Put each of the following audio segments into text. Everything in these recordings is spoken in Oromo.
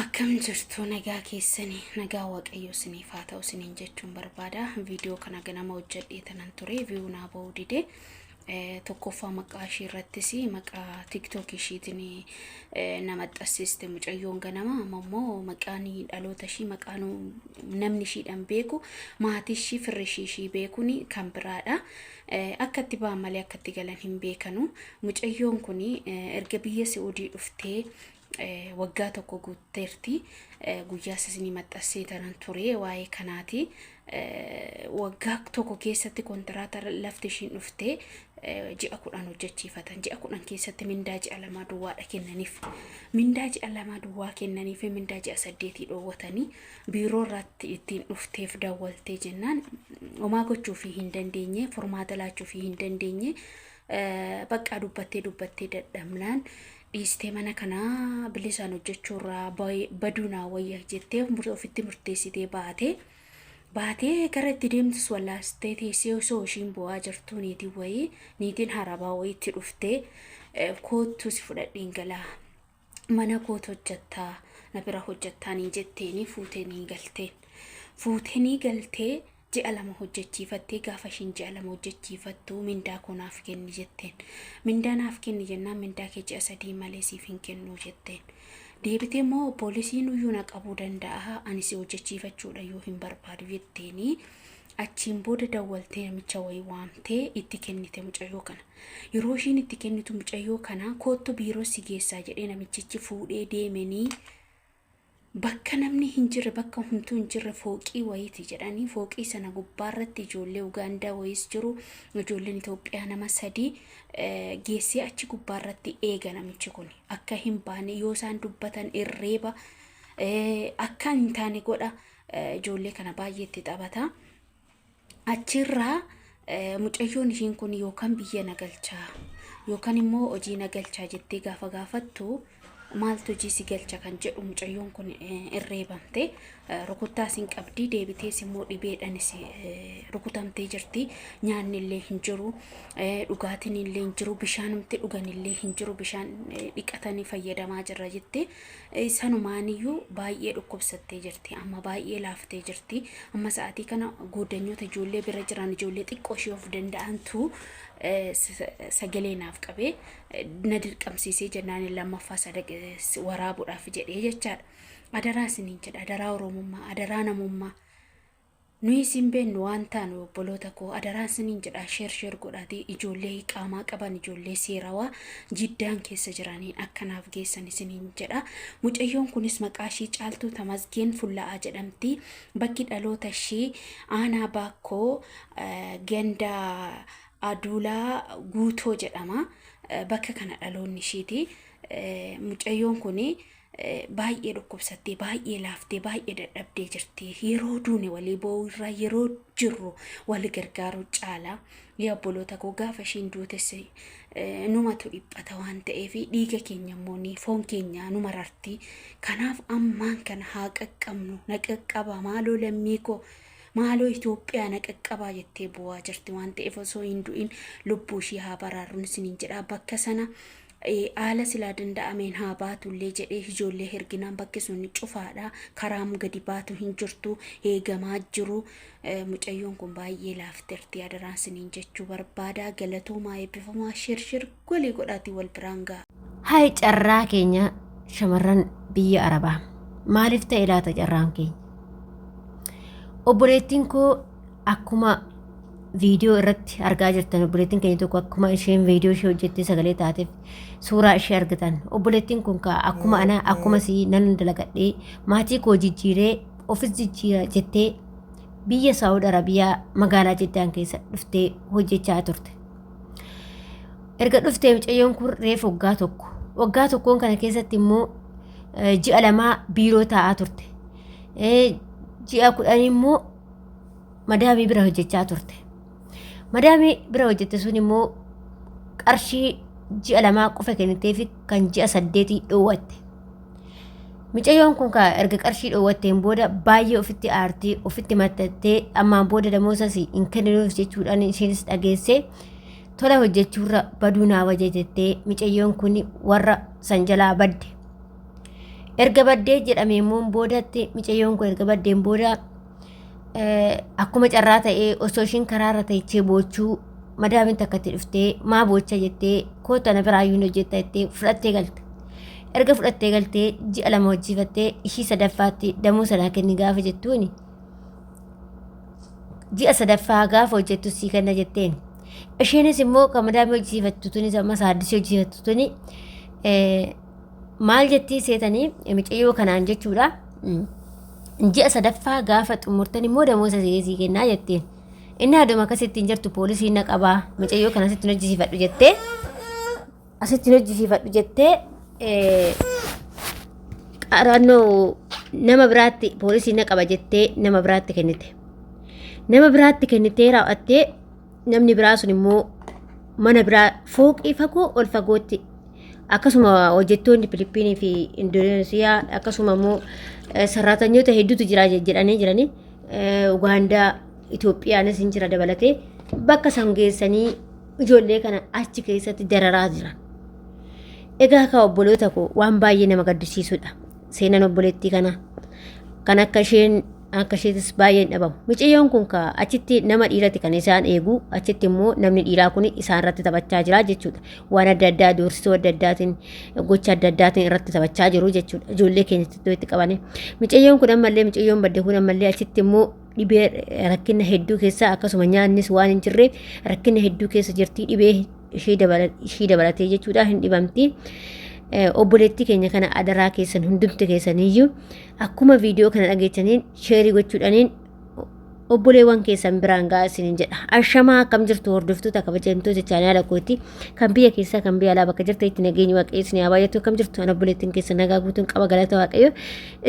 Akkam jirtu nagaa keessanii nagaa waaqayyoo isiniif haa ta'u isiniin jechuun barbaada. Viidiyoo kana ganama hojjedhee tanan ture viiyuu naa ba'uu dide. Eh, Tokkoffaa maqaa ishii irrattis maqaa tiktok ishiitiin eh, na maxxansiste mucayyoon ganama amma immoo maqaan dhaloota ishii maqaan namni ishiidhaan beeku maatii ishii firri ishii ishii beekuun kan biraadha. Akka itti ba'an malee akka itti galan hin beekanu. Mucayyoon kun erga biyya Si'uudii dhuftee waggaa tokko guutteerti. Guyyaa sisni maxxansee tanan ture waa'ee kanaati. Waggaa tokko keessatti kontiraata lafti ishiin dhuftee ji'a kudhan hojjechiifatan. Ji'a kudhan keessatti mindaa ji'a lamaa duwwaadha kennaniif. Mindaa ji'a lamaa duwwaa kennaniif mindaa ji'a saddeetii dhoowwatanii biiroo irratti ittiin dhufteef dawwaltee jennaan homaa gochuufii hin dandeenye furmaata laachuufii hin dandeenye eh, baqqaa dubbattee dubbattee dadhabnaan dhiistee mana kanaa bilisaan hojjechuurraa baye- baduu naa wayya jettee mur- ofitti murteessitee baatee baatee gara itti deemtus wallaastee teessee osoo ishiin bu'aa jirtuu niitiin wayii niitiin harabaa wayiitti dhuftee eh, koottuu si fudhadheen galaa mana koot hojjattaa na bira hojjattaa niin jetteenii fuutee niin galteen fuutee nii galtee ji'a lama hojjechiifattee gaafa ishiin ji'a lama hojjechiifattu mindaa koo naaf kenni jetteen mindaa naaf kenni jennaan mindaa kee ji'a sadii malee siif hin kennuu jetteen deebitee immoo poolisiin uyyuu na qabuu danda'a ani si hojjechiifachuudha yoo hin barbaadu jetteenii achiin booda dawwaltee namicha wayii waamtee itti kennite mucayyoo kana Yeroo ishiin itti kennitu mucayyoo kana koottu biiroo si geessaa jedhee namichichi fuudhee deemenii bakka namni hin jirre bakka humtuu hin jirre fooqii wayiiti jedhanii fooqii sana gubbaarratti ijoollee Ugaandaa wayiis jiru ijoolleen Itoophiyaa nama sadii eh, geessee achi gubbaarratti eega namichi kun akka hin baane yoo isaan dubbatan irreeba eh, akka hin taane godha eh, ijoollee kana baay'ee itti taphata. achirraa eh, mucayyoon ishiin kun yookaan biyya na galchaa yookaan immoo hojii na galchaa jettee gaafa gaafattu maaltu hojii si galcha kan jedhu mucayyoon kun eh, irreebamte eh, rukuttaas hin qabdi deebitees immoo dhibeedhanis eh, rukutamtee jirti nyaanni illee hin jiru eh, dhugaatiin illee hin jiru bishaanumti dhugan illee hin jiru bishaan eh, dhiqatanii fayyadamaa jirra jettee Sanumaan iyyuu baay'ee dhukkubsattee jirti. Amma baay'ee laaftee jirti. Amma sa'aatii kana gooddanyoota ijoollee bira jiran ijoollee xiqqoo ishee of danda'antu eh, sa- sagalee naaf qabee eh, na dirqamsiisee jennaan lammaffaa sadaq eh, waraabuudhaaf jedhee jechaadha. Adaraa isiniin jedha. Adaraa Oromummaa. Adaraa namummaa. Nuyis hin beennu waan taanu obboloota koo adaraan sinin jedha sheer sheer godhaati ijoollee qaamaa qaban ijoollee seerawaa jiddaan keessa jiraniin akka naaf geessan isiniin jedha mucayyoon kunis maqaa ishii caaltuu tamasgeen fulla'aa jedhamti bakki dhaloota ishii aanaa baakkoo eh, ganda aduulaa guutoo jedhama Eh, bakka kana dhaloonni ishiiti Eh, mucayyoon kuni Baay'ee dhukkubsattee, baay'ee laaftee, baay'ee dadhabdee jirti. Yeroo duune walii boo'uu irraa yeroo jirru wal gargaaruu caalaa yaa obboloota koo gaafa ishiin duutes eh, numatu dhiphata waan ta'eef dhiiga keenya immoo ni foon keenya nu mararti. Kanaaf ammaan kana haa qaqqabnu na qaqqabaa maaloo lammii koo maaloo Itoophiyaa na qaqqabaa jettee bu'aa jirti waan ta'eef osoo hin du'in lubbuu ishii haa baraarruun isiniin jedha bakka sana Haala silaa danda'ameen haa baatullee jedhee ijoollee herginaan bakki sun cufaadha. Karaam gadi baatu hin jirtu. Eegamaa jiru. Mucayyoon kun baay'ee laafterti. Adaraan siniin jechuu barbaada. Galatoomaa eebbifamaa shirshir golii godhaatii wal biraan ga'a. Hayi carraa keenya shamarran biyya Arabaa. Maaliif ta'e laata carraan keenya? Obboleettiin koo akkuma viidiyoo irratti argaa jirtan obboleettiin keenya tokko akkuma isheen viidiyoo ishee hojjettee sagalee taateef suuraa ishee argitan obboleettiin kun kaa akkuma ana akkuma si nan dalagadhee maatii koo jijjiiree ofis jijjiira jettee biyya saawud arabiyaa magaalaa jiddaan keessa dhuftee hojjechaa turte erga dhuftee mucayyoon kun reef waggaa tokko waggaa tokkoon kana keessatti immoo eh, ji'a lamaa biiroo taa'aa turte Eh, ji'a kudhan immoo madaamii bira hojjechaa turte. Madaamii bira hojjette sun immoo qarshii ji'a lamaa qofa kennitee fi kan ji'a saddeetii dhoowwatte. Micayyoon kun kaa erga qarshii dhoowwatteen booda baay'ee ofitti aartee ofitti maxxattee ammaan booda damoosas hin kenninuuf jechuudhaan isheenis dhageessee tola hojjechuurra baduu naa wayya jettee micayyoon kun warra san jalaa badde. Erga baddee jedhamee immoo boodatti micayyoon koo erga baddeen booda akkuma carraa ta'ee osoo ishiin karaarra teechee boochuu madaamin takka itti dhuftee maa boocha jettee koota na biraa yuun hojjetta jettee fudhattee galte. Erga fudhattee galtee ji'a lama hojjiifattee ishii sadaffaatti damuu sanaa kenni gaafa jettuuni. Ji'a sadaffaa gaafa hojjettu sii kenna jetteen. Isheenis immoo kan madaamii hojjiifattu tunis amma saaddisii hojjiifattu tuni maal jettii seetanii micayyoo kanaan jechuudha ji'a sadaffaa gaafa xumurtan immoo damoosa si'eesii kennaa jetteen inni haaduma akkasittiin jirtu poolisii na qabaa micayyoo kana asitti hojjisiifadhu jettee asitti hojjisiifadhu jettee qarannoo nama biraatti poolisii na qaba jettee nama biraatti kennite nama biraatti kennitee raawwattee namni biraa sun immoo mana biraa fooqii fagoo ol fagootti akkasuma hojjettoonni Filiippiinii fi Indoneesiyaa akkasuma immoo sarraatanyoota hedduutu jira jedhanii jiranii Ugaandaa Itoophiyaanis hin jira dabalatee bakka san geessanii ijoollee kana achi keessatti dararaa jiran. Egaa akka obboloota koo waan baay'ee nama gaddisiisudha. Seenaan obboleettii kana kan akka isheen Akka isheetis baay'een dhabamu. Miciyyoon kun ka achitti nama dhiirati kan isaan eegu achitti immoo namni dhiiraa kun isaan irratti taphachaa jira jechuudha. Waan adda addaa doorsisuu adda addaatiin gocha adda addaatiin irratti taphachaa jiru jechuudha. Ijoollee keenyatti iddoo itti qabanii. Miciyyoon kun ammallee miciyyoon badde kun ammallee achitti immoo dhibee rakkina hedduu keessa akkasuma nyaannis waan hin jirreef rakkina hedduu keessa jirti dhibee ishii dabalatee jechuudha hin dhibamti. Obboleettii keenya kana adaraa keessan hundumti keessaniyyuu akkuma viidiyoo kana dhageechaniin sheerii gochuudhaniin obboleewwan keessan biraan ga'aa isiniin jedha. Ashamaa akkam jirtu hordoftoota kabajamtoota chaanaala kooti kan biyya keessaa kan biyya alaa bakka jirta itti nageenyi waaqayyo isin haa baay'atu akkam jirtu ana obboleettiin keessan nagaa guutuun qaba galata waaqayyo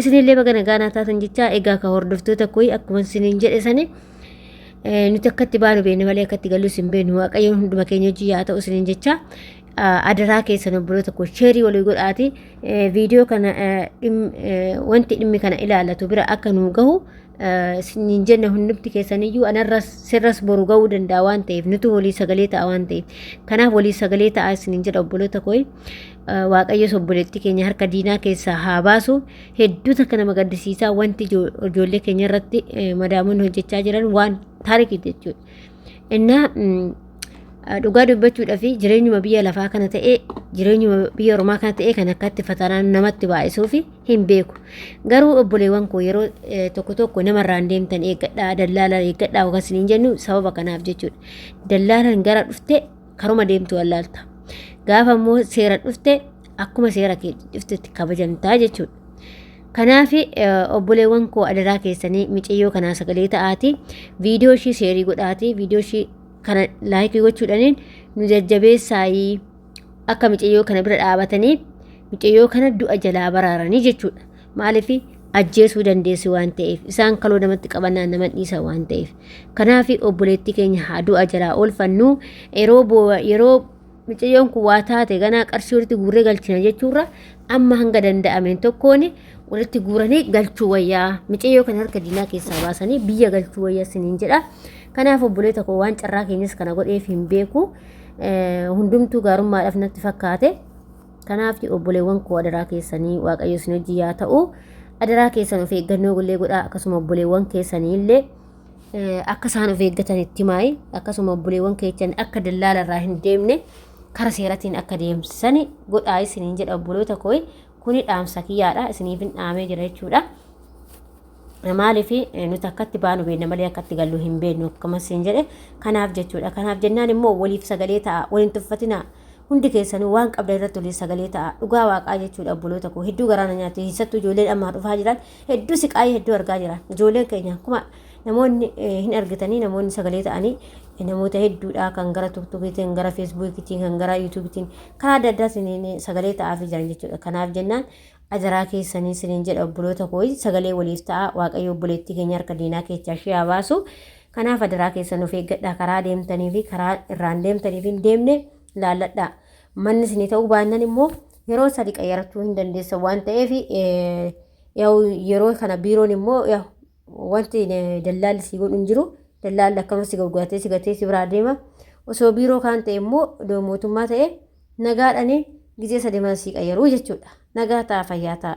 isinillee baga nagaa naa taatan jechaa egaa ka hordoftoota kooyi akkuma isiniin jedhe sani nuti akkatti baanu beekne malee akkatti gallu isin beeknu waaqayyoon hunduma keenya hojii yaa ta'u isiniin jechaa adaraa keessan obboloota koo sheerii walii godhaati viidiyoo kana wanti dhimmi kana ilaallatu bira akka nu gahu hin jenne hundumti keessaniyyuu anarras sirras boru ga'uu danda'a waan ta'eef nuti walii sagalee ta'a waan ta'eef kanaaf walii sagalee ta'a isinin jedha obboloota koo waaqayyos obboleettii keenya harka diinaa keessaa haa baasu hedduu takka nama gaddisiisaa wanti ijoollee keenya irratti madaamoonni hojjechaa jiran waan taarikii jechuudha. Innaa dhugaa dubbachuudhaaf jireenyuma biyya lafaa kana ta'ee jireenyuma biyya ormaa kana ta'ee kan akkatti fatanaan namatti baay'isuuf hin beeku. Garuu obboleewwan koo yeroo tokko tokko namarraan deemtan eeggadhaa dallaalaan eeggadhaa yookaan isiniin jennu sababa kanaaf jechuudha. Dallaalaan gara dhufte karuma deemtu wallaalta. Gaafa immoo seera dhufte akkuma seera kee dhuftetti kabajamtaa jechuudha. Kanaaf obboleewwan koo adaraa keessanii micayyoo kanaa sagalee ta'aatii viidiyoo ishii seerii godhaatii viidiyoo ishii kana laayikii gochuudhaaniin nu jajjabeessaayii akka micayyoo kana bira dhaabatanii micayyoo kana du'a jalaa baraaranii jechuudha. Maaliif ajjeesuu dandeessi waan ta'eef isaan kaloo namatti qabannaan nama dhiisa waan ta'eef kanaaf obboleettii keenya haa du'a jalaa oolfannu yeroo boo'a yeroo micayyoon kun waa taate ganaa qarshii walitti guurree galchina jechuurra amma hanga danda'ameen tokkoon walitti guuranii galchuu wayyaa micayyoo kan harka diinaa keessaa baasanii biyya galchuu wayyaa siniin jedha kanaaf obboleeta koo waan carraa keenyas kana godheef hin beeku hundumtuu gaarummaadhaaf natti fakkaate. Kanaaf obboleewwan koo adaraa keessanii waaqayyo isin hojii yaa ta'u adaraa keessan of eeggannoo illee godhaa akkasuma obboleewwan keessanii illee akka isaan of eeggatan itti maayi akkasuma obboleewwan keessan akka dallaala irraa hin deemne kara seeratiin akka deemsisani godhaa isiniin jedha obboloota koo kuni dhaamsa kiyyaadha isiniif hin dhaamee jira jechuudha. Maaliif nuti akkatti baanu beekna malee akkatti gallu hin beeknu akkuma siin jedhe kanaaf jechuudha. Kanaaf jennaan immoo waliif sagalee ta'a waliin tuffatina hundi keessanuu waan qabda irratti waliin sagalee ta'a dhugaa waaqaa jechuudha obboloota koo hedduu garaana nyaatu keessattuu ijoolleen ammaa dhufaa jiran hedduu siqaayii hedduu argaa jira ijoolleen keenya akkuma namoonni hin argitanii namoonni sagalee ta'anii namoota hedduudha kan gara tuktukiitiin gara feesbuukiitiin kan gara yuutuubiitiin karaa adda addaatiin sagalee ta'aafii jiran jechuudha kanaaf jennaan Adaraa keessanii sinin jedha obboloota koo sagalee waliif ta'a waaqayyo obboleettii keenya harka diinaa keessaa ishee haa baasu. Kanaaf adaraa keessan of eeggadhaa karaa deemtanii fi karaa irraan deemtaniif hin deemne laalladhaa. Manni isinii ta'uu baannan immoo yeroo sadi qayyarachuu hin dandeessan waan ta'eef yeroo kana biiroon immoo Wanti dallaalli si godhu hin jiru. Dallaalli akkama si gurguratee si gatee si biraa deema. Osoo biiroo kaan ta'e immoo odoo mootummaa ta'e nagaadhani gizee sademaan si qayyaruu jechuudha. Nagaa ta'a fayyaa ta'a.